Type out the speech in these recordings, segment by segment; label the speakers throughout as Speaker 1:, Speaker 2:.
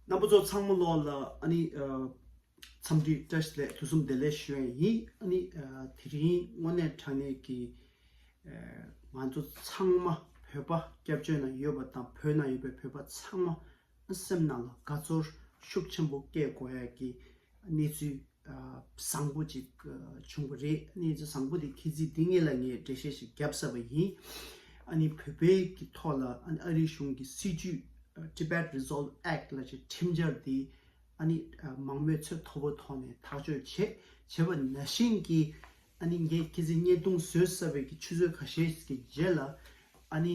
Speaker 1: རྣམ་པ་ཚོ་ཚང་མ་ལོག་ལ་ཨཱ་ནི། འཚམས་འདྲི་བཀྲ་ཤིས་བདེ་ལེགས་ཕུན་སུམ་བདེ་ལེགས་ཞུ་ཡས་ཡིན་ཨཱ་ནི། དེ་རིང་དངོས་གནས་དྲང་གནས་ཀྱི། ང་ཚོ་ཚང་མ་བོད་པ་སྐྱབས་བཅོལ་ན་ཡོད་པ་དང་བོད་ན་ཡོད་པའི་བོད་པ་ཚང་མ་སེམས་ནང་ལ་དགའ་ཚོར་ཤུགས་ཆེན་པོ་སྐྱེས་དགོས་ཡས་ཀྱི་གནས་ཚུལ་བཟང་པོ་ཅིག་བྱུང་བ་རེད་གནས་ཚུལ་བཟང་པོ་དེ་ཁྱེད་ཚིས་འདི་ངེད་ལ་ངས་འགྲེལ་བཤད་ཞིག་བརྒྱབ་ས་བ་ཡིན་ཨ་ནི་བོད་པའི་གི་ཐོག་ལ་ཨ་ནི་ཨ་རིའི་གཞུང་གི་སྲིད་ཇུས Tibet Resolve Act ལ་ཅིག་ཁྲིམས་འཆར་འདི་ཨ་ནི་མང་མོས་ཚོད་མཐོ་པོ་ཐོག་ནས་ཐག་གཅོད་བྱེད་བྱེད་པ་ན་བཞིན་གི་ཨ་ནི་ངས་ཁྱེད་ཚིས་བརྙས་བརྡུང་བཟོས་ས་བའི་གི་ཆུ་ཚོད་ག་ཤེད་ཀྱི་རྗེས་ལ་ཨ་ནི།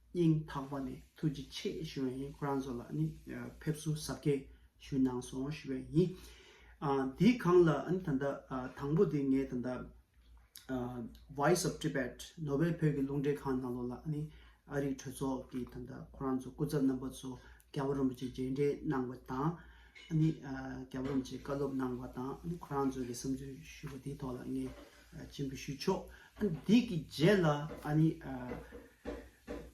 Speaker 1: སྙིང་ཐག་པ་ནས་ཐུགས་རྗེ་ཆེ་ཞུ་བ་ཡིན་ཁོ་རང་ཚོ་ལ་ནི་ཕེབས་བསུ་གཟབ་རྒྱས་ཞུས་གནང་སོང་ཞུ་བའི་ཡིན། དེའི་གང་ལ་ཨ་ནི་ད་ལྟ་དང་པོ་དེ་ངས་ད་ལྟ Voice of Tibet ནོ་བྷེལ་བོད་ཀྱི་རླུང་འཕྲིན་ཁང་ནང་ལོགས་ལ་ཨ་ནི་ཨ་རིག་གྲོས་ཚོགས་ཀྱི་ད་ལྟ་ཁོ་རང་ཚོ་སྐུ་ཚབ་རྣམ་པ་ཚོ་རྒྱལ་བ་རིན་པོ་ཆེ་མཇལ་འཕྲད་གནང་བ་དང་ཨ་ནི་རྒྱལ་བ་རིན་པོ་ཆེ་བཀའ་སློབ་གནང་བ་དང་ཨ་ནི་ཁོ་རང་ཚོ་ལ་བསམ་ཚུལ་ཞུས་པ་དེའི་ཐོག་ལ་ངས་ཅན་དུ་ཞུ་ཆོག་དེ་གི་རྗེས་ལ་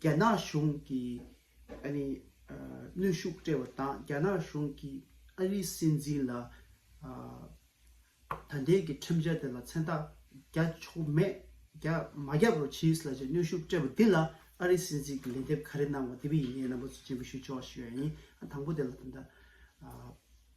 Speaker 1: རྒྱ་ནག་གཞུང་གི་གནོན་ཤུགས་སྤྲད་པ་དང་རྒྱ་ནག་གཞུང་གི་ཨ་རིའི་སྲིད་འཛིན་ལ་ད་ལྟའི་གི་ཁྲིམས་འཆར་དེ་ལ་མཚན་རྟགས་རྒྱ་ཆོག་མེད་རྒྱ་མ་རྒྱབ་རོགས་གྱིས་ལ་གནོན་ཤུགས་སྤྲད་པ་འདི་ལ་ཨ་རིའི་སྲིད་འཛིན་གི་ལན་འདེབས་ག་རེ་གནང་བ་དེ་བས་ཡིན་ངེས་རྣམ་པ་ཅན་དུ་ཞུ་ཆོག་ཞུ་བ་ཡིན་དང་པོ་དེ་ལ་ད།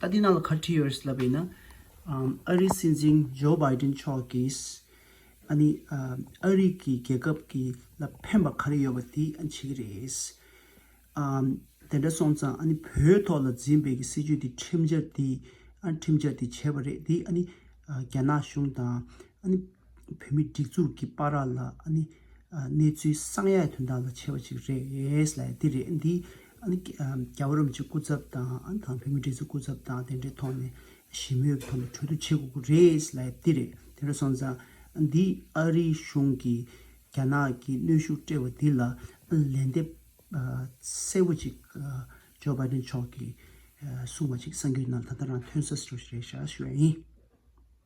Speaker 1: ད་དེ་ནང་ལ་ཁ་འཁྲི་ཡོད་རེད་ལབ་པ་ཡིན་ན། ཨ་རིའི་སྲིད་འཛིན Joe Biden མཆོག་གིས་ཨ་ནི་ཨ་རིག་གི་རྒྱལ་ཁབ་ཀྱི་ལ་ཕན་པ་ག་རེ་ཡོད་པ་དེ་ཨ་ནི་བྱེད་ཀྱི་རེད། ཨ་དེ་འདྲ་སོང་ཙང་ཨ་ནི་བོད་ཐོག་ལ་འཛིན་པའི་གི་སྲིད་ཇུས་དེ་ཁྲིམས་འཆར་དེ་ཨ་ཁྲིམས་འཆར་དེ་བྱས་པ་རེད་དེ་ཨ་ནི་རྒྱ་ནག་གཞུང་དང་ཨ་ནི། བོད་མི་སྒྲིག་འཛུགས་ཀྱི་པ་ར་ལ་ནི་གནས་ཚུལ་གསང་ཡག་དོན་དག་ལ་ཆེ་བ་ཅིག་རེད་ལ་དེ་རེད་འདི་རྒྱ་བོད་རོམ་གྱི་སྐུ་ཚབ་དང་དང་བོད་མི་སྒྲིག་འཛུགས་སྐུ་ཚབ་དང་དེ་འདྲའི་ཐོག་ནས་ཞི་མོལ་གྱི་ཐོག་ནས་གྲོས་བསྡུར་བྱེད་དགོས་ཀྱི་རེད་ལ་དེ་རེད་དེ་འདྲ་སོང་ཙང་འདི་ཨ་རིའི་གཞུང་གིས་རྒྱ་ནག་གི་གནོན་ཤུགས་སྤྲད་པ་འདི་ལ་ལན་འདེབས་གསལ་བོ་ཅིག་ཇོ་བྷ་དན་མཆོག་གིས་གསུང་བ་ཅིག་གསང་རྒྱུད་ནང་ད་ལྟ་རང་ཐོན་ས་རེད་ཞེས་ཞུ་བ་ཡིན།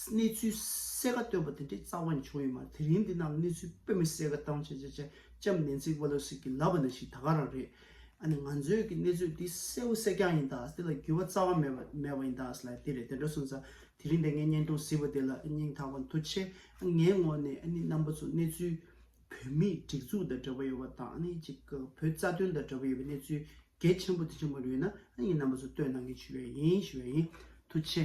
Speaker 1: གནས་ཚུལ་གསལ་ཁ་བཏོན་པ་དེ་འདྲའི་རྩ་བ་ནས་བྱུང་ཡོད་མ་རེད་དེ་རིང་འདི་ནང་གི་གནས་ཚུལ་དཔེ་མི་གསལ་ཁ་བཏང་བྱས་བྱས་བྱས་ལྕམ་ནན་སི་པེ་ལོ་སི་གིས་ལབ་པ་ནང་བཞིན་ད་ག་རང་རེད་ཨ་ནི་ང་ཚོས་ཀྱི་གནས་ཚུལ་འདི་གསལ་བོ་གསལ་རྐྱང་ཡིན་ད་དེ་ལ་འགྱུར་བ་རྩ་བ་མེད་པ་མེད་པ་ཡིན་ད་ལ་དེ་རེད་དེ་འདྲ་སོང་ཙང་དེ་རིང་འདི་ངས་བརྙན་ཐུང་གཟིགས་པ་དེ་ལ་སྙིང་ཐག་པ་མཐོ་ཆེ་ཨ་ངའི་ངོ་ནས་ཨ་ནི་རྣམ་པ་ཚོ་གནས་ཚུལ་བོད་མིའི་སྒྲིག་འཛུགས་དང་འབྲེལ་བ་ཡོད་པ་དང་ཨ་ནི་གཅིག་གི་བོད་རྩ་དོན་དང་འབྲེལ་བ་ཡོད་པའི་གནས་ཚུལ་གལ་ཆེན་པོ་དེ་ཆེན་པོ་རེད་ན་ཨ་ནི་ངས་རྣམ་པ་ཚོ་བསྟོད་གནང་གིན་བྱུས་བས་ཡིན་བྱུས་བས་ཡིན་མཐོ་ཆེ།